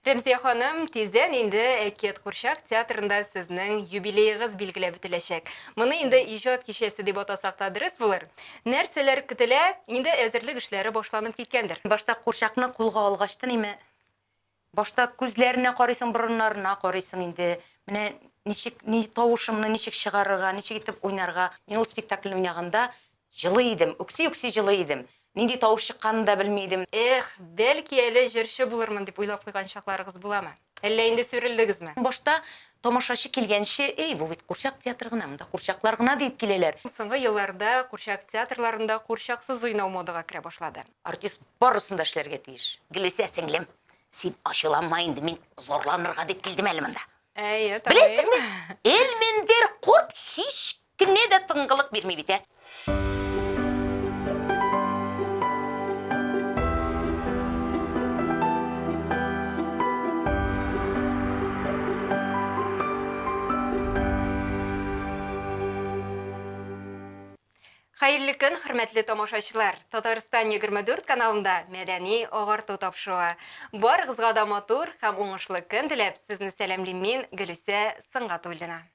Рәмзия ханым, тиздән инде Әкият курчак театрында сезнең юбилеегыз билгеләп үтеләчәк. Моны инде иҗат кичәсе дип атасак та дөрес булыр. Нәрсәләр көтелә? Инде әзерлек эшләре башланып киткәндер. Башта курчакны кулга алгач та ниме, башта күзләренә карыйсың, борыннарына карыйсың инде. Менә ничек, ни, тавышымны ничек чыгарырга, ничек итеп уйнарга. Мин ул спектакльне уйнаганда Җылый идем, үкси-үкси җылый идем. Нинди тавыш чыкканын да белми идем. Эх, бәлки әле җырчы булырмын дип уйлап куйган чакларыгыз буламы? Әллә инде сүрелдегезме? Башта тамашачы килгәнче, Эй, бу бит курчак театры гына, монда курчаклар гына, диеп киләләр. Соңгы елларда курчак театрларында курчаксыз уйнау модага керә башлады. Артист барысын да эшләргә тиеш. Гөлүсә сеңлем, син ачуланма инде, мин зарланырга дип килдем әле монда. Әйе, таныйм. Беләсеңме, Элмендер корт һич Кемгә дә тынгылык бирми бит, ә? Хәерле көн, хөрмәтле тамашачылар! Татарстан 24 каналында мәдәни агарту тапшыруы. Барыгызга да матур һәм уңышлы көн теләп, сезне сәламлим мин, Гөлүсә Сынгатуллина.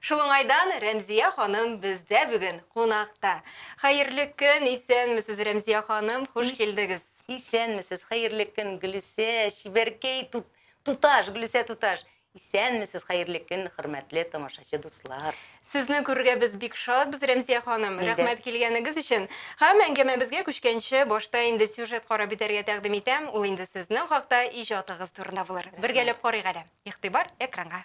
Шул уңайдан Рәмзия ханым бездә бүген кунакта. Хәерле көн, исәнмесез, Рәмзия ханым, хуш килдегез. Исәнмесез, хәерле көн, Гөлүсә, чибәркәй, туташ, Гөлүсә туташ. Исәнмесез, хәерле көн, хөрмәтле тамашачы дуслар. Сезне күрергә без бик шатбыз, Рәмзия ханым. Рәхмәт килгәнегез өчен. Һәм әңгәмәбезгә күчкәнче, башта инде сюжет карап бетәргә тәкъдим итәм, ул инде сезнең хакта, иҗатыгыз турында булыр. Бергәләп карыйк әле. Игътибар экранга.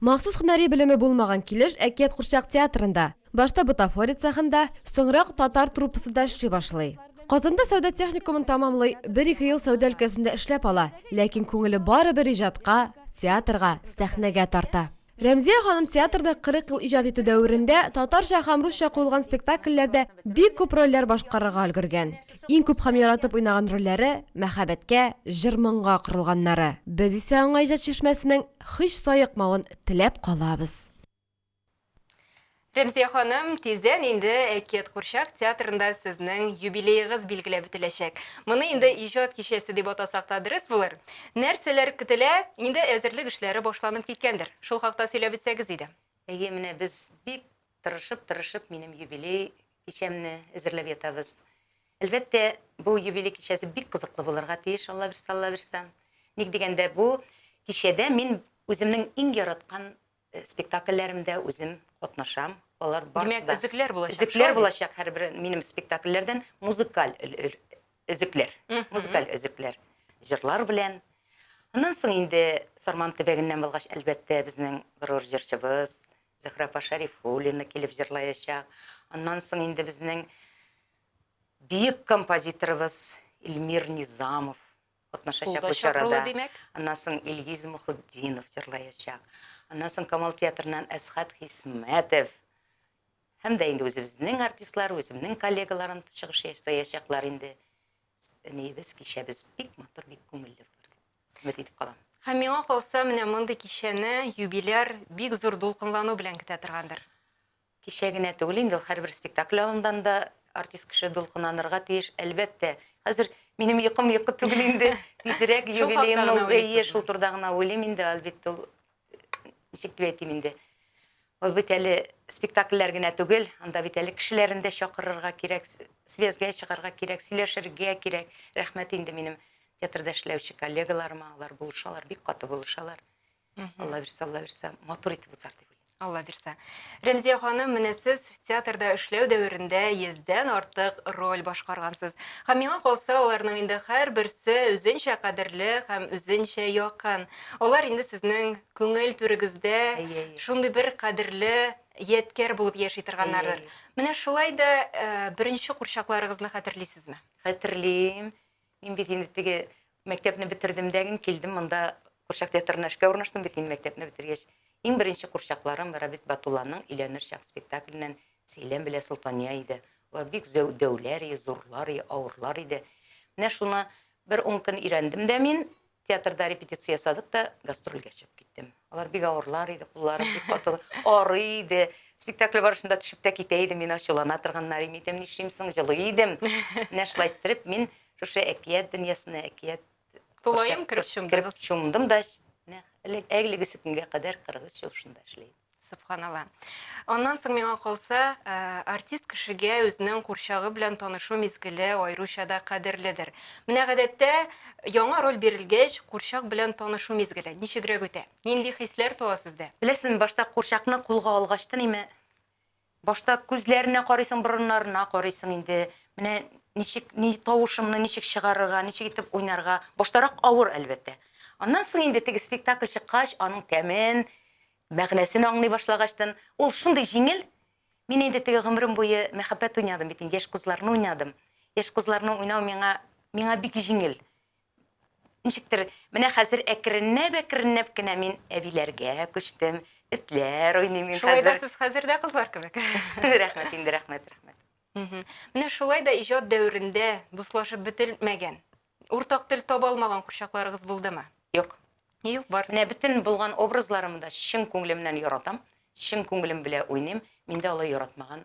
Махсус һөнәри белеме булмаган килеш Әкият курчак театрында, башта бутафория цехында, соңрак татар труппасында эшли башлый. Казанда сәүдә техникумын тәмамлый, бер-ике ел сәүдә өлкәсендә эшләп ала, ләкин күңеле барыбер иҗатка, театрга, сәхнәгә тарта. Рәмзия ханым театрда 40 ел иҗат итү дәверендә татарча һәм русча куелган спектакльләрдә бик күп рольләр башкарырга өлгергән. Иң күп һәм яратып уйнаган рольләре мәхәббәткә, җыр-моңга корылганнары. Без исә аңа иҗат чишмәсенең һич саекмавын теләп калабыз. Рәмзия ханым, тиздән инде Әкият курчак театрында сезнең юбилеегыз билгеләп үтеләчәк. Моны инде иҗат кичәсе дип атасак та дөрес булыр. Нәрсәләр көтелә? Инде әзерлек эшләре башланып киткәндер. Шул хакта сөйләп үтсәгез иде. Әйе, менә без бик Тырышып-тырышып минем юбилей кичәмне әзерләп ятабыз. Әлбәттә, бу юбилей кичәсе бик кызыклы булырга тиеш, Аллабирса, Аллабирса. Ник дигәндә, бу кичәдә мин үземнең иң яраткан спектакльләремдә үзем катнашам. Алар барысы да. Димәк, өзекләр булачак. Өзекләр булачак һәрбер минем спектакльләрдән музыкаль өзекләр. Музыкаль өзекләр. Җырлар белән. Аннан соң инде Сарман төбәгеннән булгач, әлбәттә, безнең горур җырчыбыз, Зөһрә апа Шәрифуллина килеп җырлаячак. Аннан соң инде безнең бөек композиторыбыз Илмир Низамов катнашачак бу чарада. Аннан соң Илгиз Мухутдинов җырлаячак. Аннан соң Камал театрыннан Әсхат Хисмәтов һәм дә инде үзебезнең артистлар, үземнең коллегаларым чыгыш ясаячаклар инде. Әниебез кичәбез бик матур, бик күңелле булыр. Өмет итеп калам. Һәм миңа калса, менә мондый кичәне юбиляр бик зур дулкынлану белән көтә торгандыр. Кичә генә түгел инде ул, һәрбер спектакль алдыннан да артист кеше дулкынланырга тиеш, әлбәттә. Хәзер минем йокым йокы түгел инде, тизрәк юбилеемны уз, әйе, шул турыда гына уйлыйм инде, әлбәттә, ул ничек дип әйтим инде ул бит әле спектакльләр генә түгел анда бит әле кешеләрен дә чакырырга кирәк связьгә чыгарга кирәк сөйләшергә кирәк рәхмәт инде минем театрда эшләүче коллегаларыма алар булышалар бик каты булышалар алла бирса алла бирса матур итеп узар дип уйлыйм алла бирса рәмзия ханым менә сез Театрда эшләү дәверендә йөздән артык роль башкаргансыз. Һәм миңа калса, аларның инде һәрберсе үзенчә кадерле һәм үзенчә якын. Алар инде сезнең күңел түрегездә Әйе, әйе. шундый бер кадерле ядкәр булып яши торганнардыр. Әйе, әйе. Менә шулай да беренче курчакларыгызны хәтерлисезме? Хәтерлим. Мин бит инде теге мәктәпне бетердем дә гин килдем монда курчак театрына эшкә урнаштым бит инде мәктәпне бетергәч. Иң беренче курчакларым Рабит Батулланың Өйләнер чак спектакленнән Сәйлән белә Солтания иде. Алар бик зәү дәүләр и, зурлар и, авырлар иде. Менә шуны бер ун көн өйрәндем дә мин, Театрда репетиция ясадык та, гастрольгә чыгып киттем. Алар бик авырлар иде, кулларым бик каты, арый иде. Спектакль барышында төшеп тә китә идем, мин ачулана торганнар име идем, нишлим соң, җылый идем. Менә шулай иттереп, мин шушы әкият дөньясына, әкият Тулаем кереп чумдым. Кереп чумдым да, әлегесе көнгә кадәр 43 ел шунда эшлим. Субханалла. Аннан соң миңа калса, э, артист кешегә үзенең курчагы белән танышу мизгеле аеруча да кадерледер. Менә гадәттә яңа роль бирелгәч, курчак белән танышу мизгеле ничегрәк үтә? Нинди хисләр туа сездә? Беләсезме, башта курчакны кулга алгач та ниме Башта күзләренә карыйсың, борыннарына карыйсың инде. Менә ничек, ни тавышымны ничек чыгарырга, ничек итеп уйнарга. Баштарак авыр, әлбәттә. Аннан соң инде теге спектакль чыккач, аның тәмен, мәгънәсен аңлый башлагачтын, ул шундый җиңел. Мин инде теге гомерем буе мәхәббәт уйнадым бит инде, яшь кызларны уйнадым. Яшь кызларны уйнау миңа, миңа бик җиңел. Ничектер, менә хәзер әкренләп-әкренләп кенә мин әбиләргә күчтем, этләр уйныйм мин хәзер. Шулай да сез хәзер дә кызлар кебек. Рәхмәт инде, рәхмәт, рәхмәт. Менә шулай да иҗат дәверендә дуслашып бетелмәгән, уртак тел таба алмаган курчакларыгыз булдымы? Юк. Юк, барысы. Менә бөтен булган образларымны да чын күңелемнән яратам, чын күңелем белән уйныйм, миндә алай яратмаган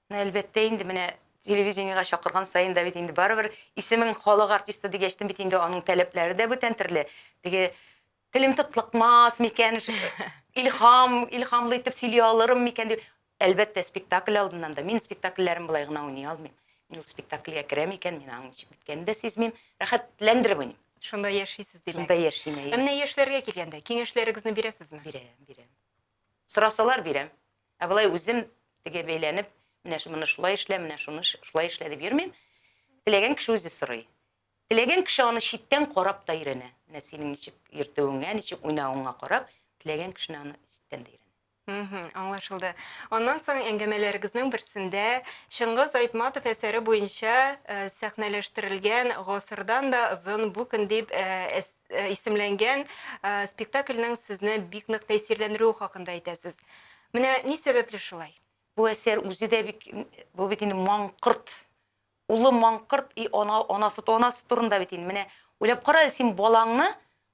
Әлбәттә инде, менә телевидениегә чакырган саен да бит инде барыбер исемең халык артисты дигәчтен бит инде аның таләпләре дә бүтән төрле. Теге телем тотлыкмас микән, илһам, илһамлы итеп сөйли алырым микән дип. Әлбәттә, спектакль алдыннан да. Мин спектакльләрем болай гына уйный алмыйм. Мин ул спектакльгә керәм икән, мин аның ничек беткәнен дә сизмим, рәхәтләндереп уйныйм. Шунда яшисез, димәк. Шунда яшим, әйе. Ә менә яшьләргә килгәндә, киңәшләрегезне бирәсезме? Бирәм, бирәм. Сорасалар, бирәм. Ә болай үзем теге бәйләнеп, менә моны шулай эшлә, менә шуны шулай эшлә дип йөрмим. Теләгән кеше үзе сорый. Теләгән кеше аны читтән карап та өйрәнә. Менә синең ничек йөртүеңә, ничек уйнавыңа карап, теләгән кешене аны читтән дә өйрәнә. Мхм, аңлашылды. Аннан соң әңгәмәләрегезнең берсендә Чыңгыз Айтматов әсәре буенча сәхнәләштерелгән Гасырдан да озын бу көн дип әс э, исемләнгән э, спектакльнең сезне бик нык тәэсирләндерүе хакында әйтәсез. Менә ни сәбәпле шулай? Бу әсәр үзе дә бик бу бит инде маңкырт. Улы маңкырт и ана анасы анасы турында бит инде. Менә уйлап кара, син балаңны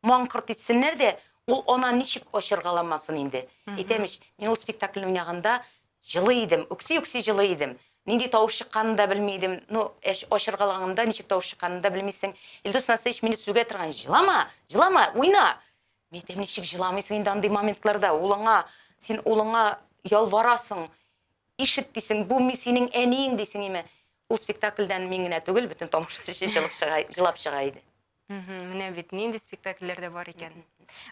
маңкырт итсеннәр дә, ул ана ничек ачыргаламасын инде. Әйтәм ич, мин ул спектакльне уйнаганда Җылый идем, үкси-үкси җылый идем. Нинди тавыш чыкканын да белми идем. Ну, әч, ачыргалганымда ничек тавыш чыкканын да белмисең. Илдус Насыйевич мине сүгә торган, җылама, җылама, уйна! Мин әйтәм, ничек җыламыйсың инде андый моментларда, ул аңа, син улыңа ялварасың, ишет дисең, бу мин синең әниең дисең име? Ул спектакльдән мин генә түгел, бөтен тамашачы җылап чыга, җылап чыга иде. Мгм, Менә бит нинди спектакльләр дә бар икән.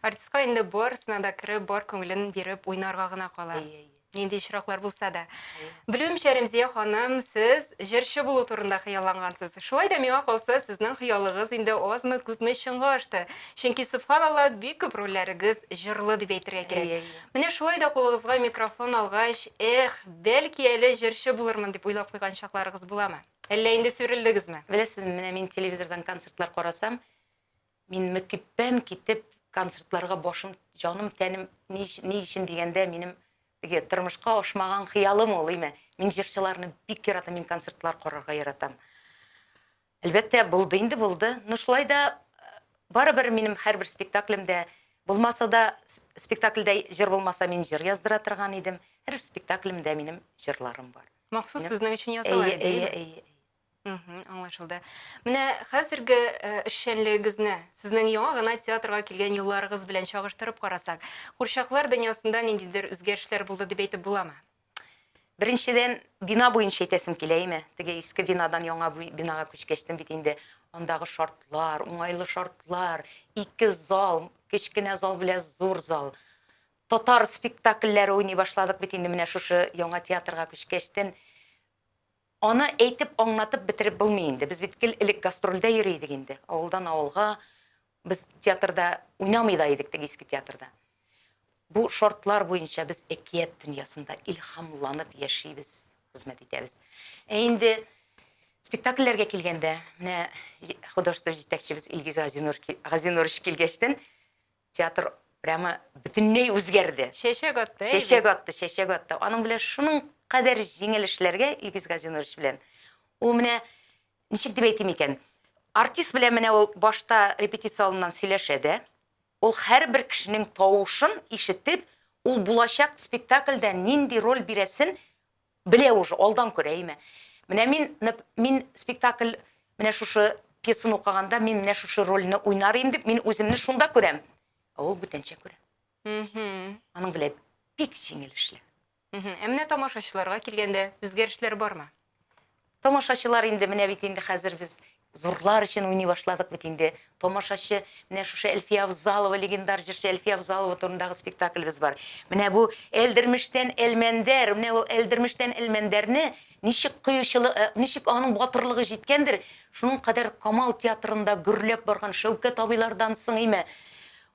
Артистка инде барысына да кереп, бар күңелен биреп уйнарга гына кала. Әйе, әйе. Нинди очраклар булса да. Әйе. Белүемчә, Рәмзия ханым, сез җырчы булу турында хыяллангансыз. Шулай да миңа калса, сезнең хыялыгыз инде азмы, күпме чынга ашты. Чөнки, сөбханалла, бик күп рольләрегез җырлы дип әйтергә Әйе, кирәк. әйе. Менә шулай да кулыгызга микрофон алгач, эх, бәлки әле җырчы булырмын дип уйлап куйган чакларыгыз буламы? Әллә инде сүрелдегезме? Беләсезме, менә мин телевизордан концертлар карасам, мин мөкиббән китеп концертларга башым, җаным, тәнем ни, ни өчен дигәндә, минем теге тормышка ашмаган хыялым ул, име. Мин җырчыларны бик яратам, мин концертлар карарга яратам. Әлбәттә, булды инде, булды. Ну, шулай да барыбер минем һәрбер спектаклемдә булмаса да, спектакльдә җыр булмаса, мин җыр яздыра торган идем. Һәр спектаклемдә минем җырларым бар. Махсус Нәм- сезнең өчен ясала, Әйе, әйе, әйе, әйе. Мгм, аңлашылды. Менә хәзерге э, эшчәнлегегезне сезнең яңа гына театрга килгән елларыгыз белән чагыштырып карасак, курчаклар дөньясында ниндидер үзгәрешләр булды дип әйтеп буламы? Беренчедән, бина буенча әйтәсем килә, әйме? Теге иске бинадан яңа бу- бинага күчкәчтен бит инде андагы шартлар, уңайлы шартлар, ике зал, кечкенә зал белән зур зал. Татар спектакльләре уйный башладык бит инде менә шушы яңа театрга күчкәчтен. Аны әйтеп, аңлатып бетереп булмый инде. Без бит гел элек гастрольдә йөри идек инде. Авылдан авылга. Без театрда уйнамый да идек теге иске театрда. Бу шартлар буенча без әкият дөньясында илһамланып яшибез, хезмәт итәбез. Ә инде спектакльләргә килгәндә, менә художество җитәкчебез Илгиз Газинур, Газинурович килгәчтен, Театр прямо бөтенләй үзгәрде. Чәчәк атты, әйбәт. Чәчәк атты, чәчәк атты. Аның белән шуның кадәр җиңел эшләргә, Илгиз Газинурович белән. Ул менә, ничек дип әйтим икән, артист белән менә ул башта репетиция алдыннан сөйләшә дә, ул һәрбер кешенең тавышын ишетеп, ул булачак спектакльдә нинди роль бирәсен Белә уже, алдан күрә, әйме. Менә мин, нып, мин спектакль, менә шушы пьесаны укыганда, мин менә шушы рольне уйнар идем дип, мин үземне шунда күрәм. Ә ул бүтәнчә күрә. Аның белә бик җиңел эшләү. Ә менә тамашачыларга килгәндә үзгәрешләр бармы? Тамашачылар инде, менә бит инде хәзер без зурлар өчен уйный башладык бит инде. Тамашачы, менә шушы Әлфия Авзалова, легендар җырчы Әлфия Авзалова турындагы спектаклебез бар. Менә бу Әлдермештән Әлмәндәр, менә ул Әлдермештән Әлмәндәрне ничек кыючылы, э, ничек аның батырлыгы җиткәндер, шуның кадәр Камал театрында гөрләп барган Шәүкәт абыйлардан соң име,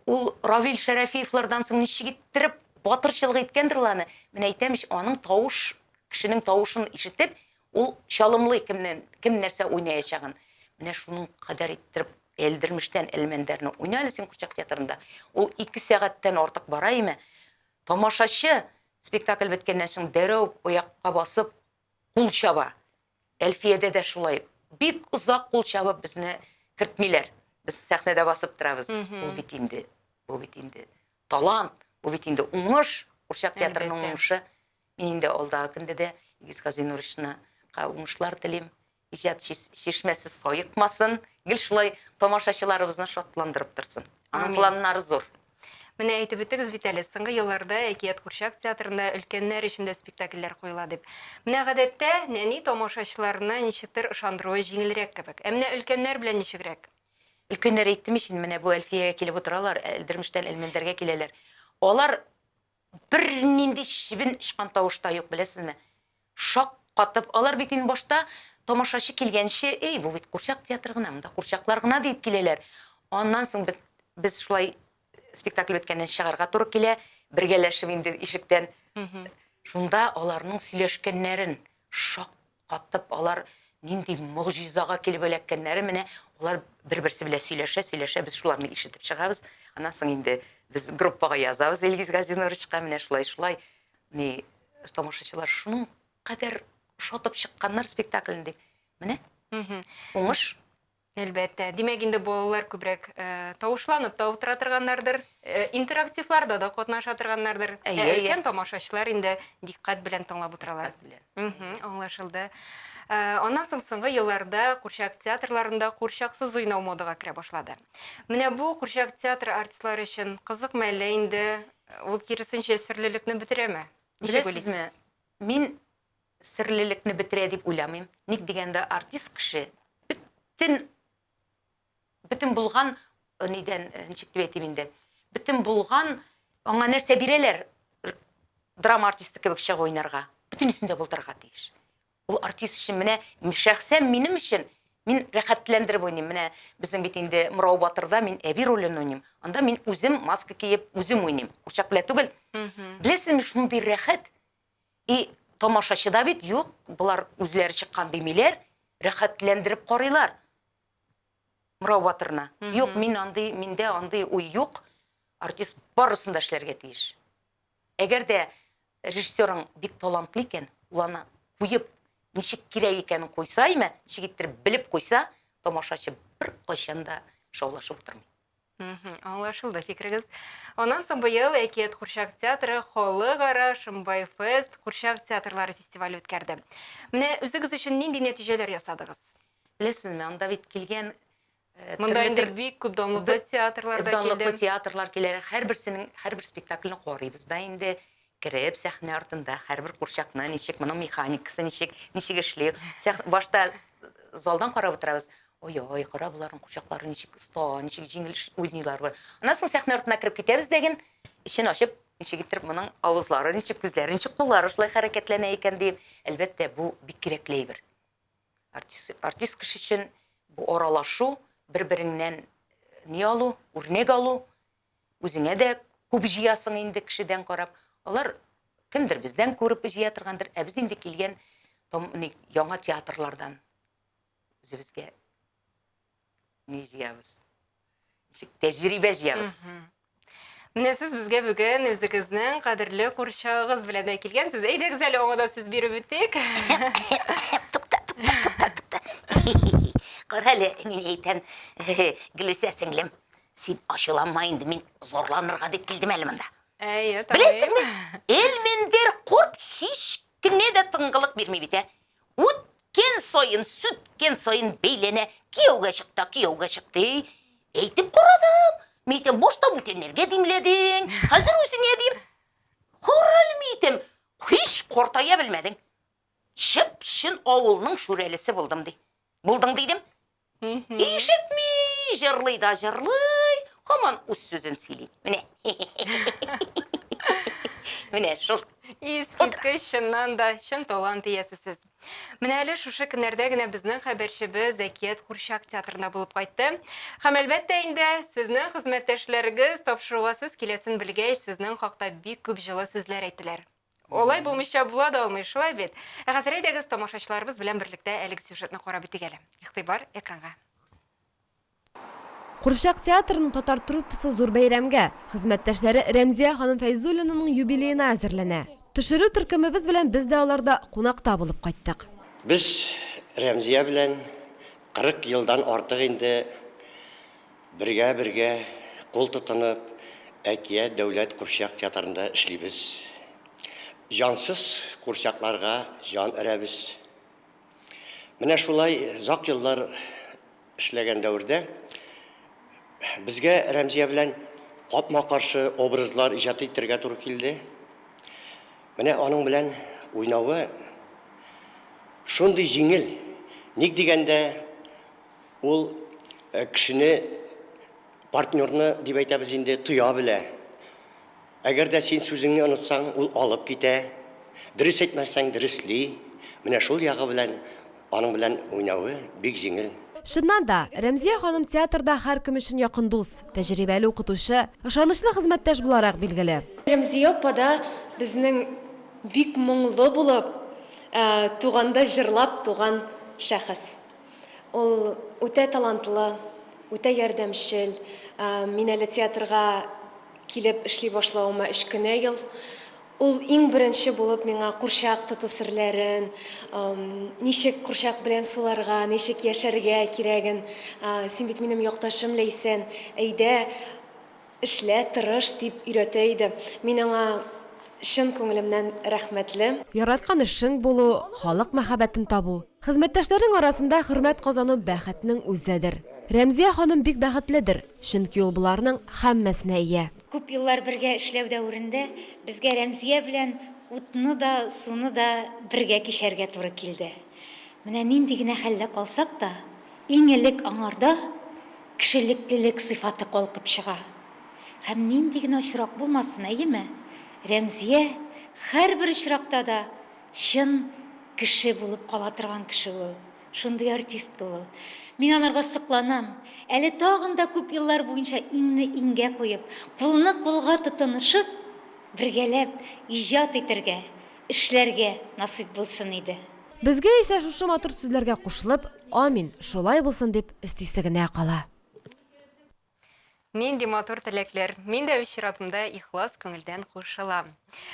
ул Равил Шәрәфиевлардан соң ничек иттереп батырчылык иткәндер ул аны. Менә әйтәм ич, аның тавыш Кешенең тавышын ишетеп, ул чалымлый кемнен, кем нәрсә уйнаячагын. Менә шуның кадәр иттереп Эльдермештән Элмәндәрне уйна әле син курчак театрында. Ул ике сәгатьтән артык бара име? Тамашачы спектакль беткәннән соң дәрәү аякка басып кул чаба. Әлфиядә дә шулай. Бик озак кул чабып безне кертмиләр. Без сәхнәдә басып торабыз. Ул бит инде, бу бит инде талант, бу бит инде уңыш, курчак театрының уңышы. Мин инде алдагы көндә дә Илгиз Газинуровичны ка уңышлар телим, иҗат чишмәсе саекмасын, гел шулай тамашачыларыбызны шатландырып торсын. Аның планнары зур. Менә әйтеп үттегез бит әле, соңгы елларда Әкият курчак театрында өлкәннәр өчен дә спектакльләр куела дип. Менә гадәттә нәни тамашачыларны ничектер ышандыруы җиңелрәк кебек. Ә менә өлкәннәр белән ничегрәк? Өлкәннәр әйттем ич инде, менә бу Әлфиягә килеп утыралар, Әлдермештән Әлмәндәргә киләләр. Алар Бернинди чебен очкан тавыш та юк, беләсезме? Шаккатып, алар бит инде башта тамашачы килгәнче, Эй, бу бит курчак театры гына, монда курчаклар гына, диеп киләләр. Аннан соң бит без шулай спектакль беткәннән чыгарга туры килә, бергәләшеп инде ишектән. Шунда аларның сөйләшкәннәрен, шаккатып, Каттып, алар нинди могҗизага килеп эләккәннәре менә алар бер-берсе белән сөйләшә, сөйләшә, без шуларны ишетеп чыгабыз. Аннан соң инде без группага язабыз Илгиз Газинуровичка, менә шулай, шулай, ни, тамашачылар шуның кадәр шатып чыкканнар спектаклен дип. Менә, уңыш. Әлбәттә. Димәк, инде балалар күбрәк тавышланып та утыра торганнардыр, интерактивларда да катнаша торганнардыр. Ә өлкән тамашачылар инде дикъкать белән тыңлап утыралар. Аңлашылды. Аннан соң соңгы елларда курчак театрларында курчаксыз уйнау модага керә башлады. Менә бу курчак театры артистлары өчен кызыкмы, әллә инде ул киресенчә серлелекне бетерәме? Ничек уйлыйсыз? Беләсезме, мин серлелекне бетерә дип уйламыйм. Ник дигәндә, артист кеше бөтен бөтен булган нидән, ничек дип әйтим инде, бөтен булган аңа нәрсә бирәләр, драма артисты кебек чыгып уйнарга, бөтенесен дә булдырырга тиеш. Ул артист өчен менә шәхсән минем өчен мин рәхәтләндереп уйныйм. Менә безнең бит инде Морау батырда мин әби ролен уйныйм. Анда мин үзем маска киеп, үзем уйныйм. Курчак белән түгел. Беләсезме, шундый рәхәт, И тамашачы да бит юк, болар үзләре чыккан димиләр, рәхәтләндереп карыйлар Мурау батырны. Юк, мин андый, миндә андый уй юк. Артист барысын да эшләргә тиеш. Әгәр дә режиссерың бик талантлы икән, ул аны куеп, ничек кирәк икәнен куйса, имә, ничек иттереп белеп куйса, тамашачы бер кайчан да шаулашып утырмый. Мгм, аңлашылды фикерегез. Аннан соң быел Әкият курчак театры халыкара Шымбай фест курчак театрлары фестивале үткәрде. Менә үзегез өчен нинди нәтиҗәләр ясадыгыз? Беләсезме, анда бит килгән э, Монда төрле инде төр- бик күп данлыклы бер- театрлар да данлыклы килде. театрлар килә. Һәрберсенең һәрбер спектакльне карыйбыз да инде. Кереп, сәхнә артында һәрбер курчакны ничек, моның механикасы ничек, ничек эшли. Башта залдан карап утырабыз. Ой-ой, кара боларның курчаклары ничек оста, ничек җиңел уйныйлар. Аннан соң сәхнә артына кереп китәбез дә ген, эчен ачып, ничек итеп моның авызлары ничек, күзләре ничек, куллары шулай хәрәкәтләнә икән дип. Әлбәттә, бу бик кирәкле әйбер. Артист, артист кеше өчен бу аралашу, бер-береңнән ни алу, үрнәк алу, Үзеңә дә күп җыясың инде кешедән карап. Алар кемдер бездән күреп җыя торгандыр, ә без инде килгән яңа театрлардан үзебезгә ни җыябыз. Ничек тәҗрибә җыябыз. Менә сез безгә бүген үзегезнең кадерле курчагыгыз белән дә килгәнсез. Әйдәгез әле аңа да сүз биреп үтик. Тукта, тукта, тукта, тукта. Кара әле, мин әйтәм, Гөлүсә сеңлем, Син ачуланма инде, мин зарланырга дип килдем әле монда. Әйе, табиғи. Беләсеңме, Элмендер корт һич кенә дә тыңгылык бирми бит, ә? Үткен саен, сүткен саен бәйләнә, кияүгә чыкта, кияүгә чыкты. Әйтеп карадым, митем башта бүтәннәргә димләдең, хәзер үзеңә дим. Корал митем, һич картая белмәдең. Чып-чын авылның шүрәлесе булдым, ди. Булдың дидем, Ишетми, җырлый да җырлый, һаман үз сүзен сөйли. Менә. Менә шул. Искиткеч, чыннан да, чын талант иясе сез. Менә әле шушы көннәрдә генә безнең хәбәрчебез Зәкият Курчак театрында булып кайтты. Һәм әлбәттә инде, сезнең хезмәттәшләрегез тапшыруга сез киләсен белгәч, сезнең хакта бик күп җылы сүзләр әйттеләр. Алай булмыйча була да алмый, шулай бит? Ә хәзер әйдәгез, тамашачыларыбыз белән берлектә әлеге сюжетны карап үтик әле. Игътибар экранга. Курчак театрының татар труппасы зур бәйрәмгә, хезмәттәшләре Рәмзия ханым Фәйзуллинаның юбилеена әзерләнә. Төшерү төркемебез белән без дә аларда кунакта булып кайттык. Без Рәмзия белән 40 елдан артык инде Бергә-бергә, кул тотынып, Әкият дәүләт курчак театрында эшлибез. Җансыз курчакларга җан өрәбез. Менә шулай озак еллар эшләгән дәвердә безгә Рәмзия белән капма-каршы образлар иҗат итәргә туры килде. Менә аның белән уйнавы шундый җиңел, ник дигәндә, Ул кешене, партнерны, дип әйтәбез инде, тоя белә. Әгәр дә син сүзеңне онытсаң, ул алып китә. Дөрес әйтмәсәң, дөресли. Менә шул ягы белән аның белән уйнавы бик җиңел. Чыннан да, Рәмзия ханым театрда һәркем өчен якын дус, тәҗрибәле укытучы, ышанычлы хезмәттәш буларак билгеле. Рәмзия апа да безнең бик моңлы булып, туганда җырлап туган шәхес. Ул үтә талантлы, үтә ярдәмчел. Мин әле театрга килеп эшли башлавыма өч кенә ел. Ул иң беренче булып миңа курчак тоту серләрен, ничек курчак белән суларга, ничек яшәргә кирәген, син бит минем якташым, Ләйсән, әйдә, эшлә, тырыш, дип өйрәтә иде. Мин аңа чын күңелемнән рәхмәтле. Яраткан эшең булу, халык мәхәббәтен табу, Хезмәттәшләрнең арасында хөрмәт казану бәхетнең үзедер. Рәмзия ханым бик бәхетледер, чөнки ул боларның һәммәсенә ия. Күп еллар бергә эшләү дәверендә безгә Рәмзия белән утны да, суны да бергә кичәргә туры килде. Менә нинди генә хәлдә калсак та, иң элек аңарда кешелеклелек сыйфаты калкып чыга. Һәм нинди генә очрак булмасын, әйеме? Рәмзия һәрбер очракта да Чын кеше булып кала торган кеше ул. Шундый артистка ул. Мин анарга сокланам. Әле тагын да күп еллар буенча иңне иңгә куеп, кулны кулга тотынышып, бергәләп иҗат итәргә, эшләргә насыйп булсын иде. Безгә исә шушы матур сүзләргә кушылып, амин, шулай булсын дип өстисе генә кала. Нинди матур теләкләр. Мин дә үз чиратымда ихлас күңелдән кушылам.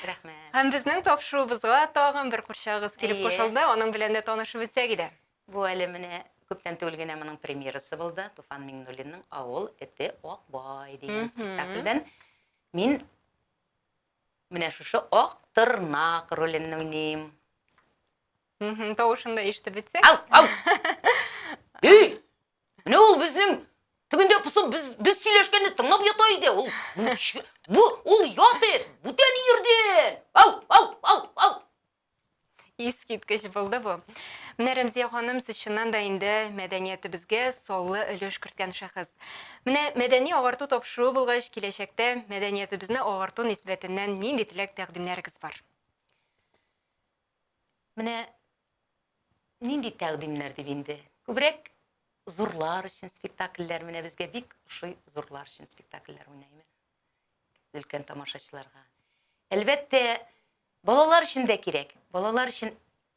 Рәхмәт. Һәм безнең тапшыруыбызга тагын бер курчагыз килеп кушылды. Аның белән дә танышып үтсәк иде. Бу әле менә күптән түгел генә моның премьерасы булды. Туфан Миңнуллинның Авыл эте Ак бай дигән спектакльдән мин менә шушы Ак тырнак ролен уйныйм. Тавышын да ишетеп үтсәк. Ау! Ау! Өй! Менә ул безнең тегендә посып без без сөйләшкәнне тыңлап ята иде. Ул бу ул ят ит, бүтән ирден. Ау, ау, ау, ау. Искиткеч булды бу. Менә Рәмзия ханым сез чыннан да инде мәдәниятебезгә саллы өлеш керткән шәхес. Менә мәдәни агарту тапшыруы булгач, киләчәктә мәдәниятебезне агарту нисбәтеннән нинди теләк тәкъдимнәрегез бар? Менә нинди тәкъдимнәр дип инде. Күбрәк зурлар өчен спектакльләр, менә безгә бик ошый зурлар өчен спектакльләр уйнаймыз. Өлкән тамашачыларга. Әлбәттә, балалар өчен дә кирәк. Балалар өчен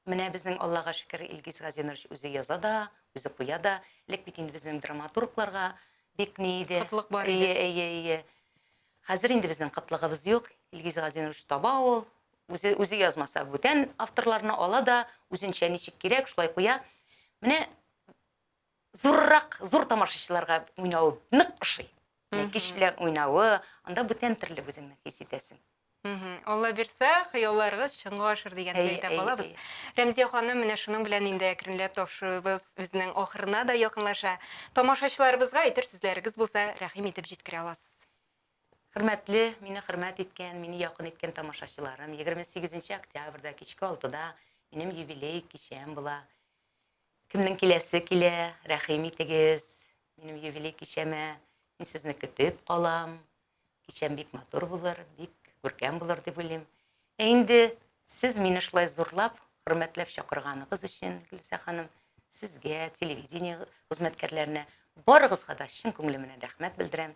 менә безнең Аллага шөкер, Илгиз Газинурович үзе яза да, үзе куя да. Элек бит инде безнең драматургларга бик ни иде. Кытлык бар иде. Әйе, әйе, әйе. Хәзер инде безнең кытлыгыбыз юк. Илгиз Газинурович таба ул, Үзе, үзе язмаса, бүтән авторларны ала да, үзенчә ничек кирәк, шулай куя. Менә зуррак, зур тамашачыларга уйнавы нык ошый. Кич белән уйнавы, анда бүтән төрле үзеңне хис итәсең. Алла бирсә, хыялларыгыз чынга ашыр дигәнне Әй, әйтә әй, калабыз. әй. Рәмзия ханым, менә шуның белән инде әкренләп тапшыруыбыз үзенең ахырына да якынлаша. Тамашачыларыбызга әйтер сүзләрегез булса, рәхим итеп җиткерә аласыз. Хөрмәтле, мине хөрмәт иткән, мине якын иткән тамашачыларым, егерме сигезенче октябрьдә кичке алтыда минем юбилей кичәм була. Кемнең киләсе килә, рәхим итегез, минем юбилей кичәмә. Мин сезне көтеп калам. Кичәм бик матур булыр, бик күркәм булыр дип уйлыйм. Ә инде сез мине шулай зурлап, хөрмәтләп чакырганыгыз өчен, Гөлүсә ханым, сезгә, телевидение хезмәткәрләренә, барыгызга да чын күңелемнән рәхмәт белдерәм.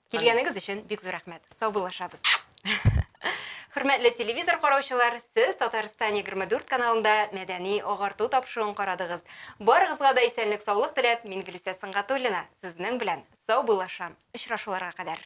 Килгәнегез өчен бик зур рәхмәт. Саубуллашабыз. Хөрмәтле телевизор караучылар, сез Татарстан 24 каналында мәдәни агарту тапшыруын карадыгыз. Барыгызга да исәнлек саулык теләп, мин Гөлүсә Сынгатуллина сезнең белән саубуллашам. Очрашуларга кадәр.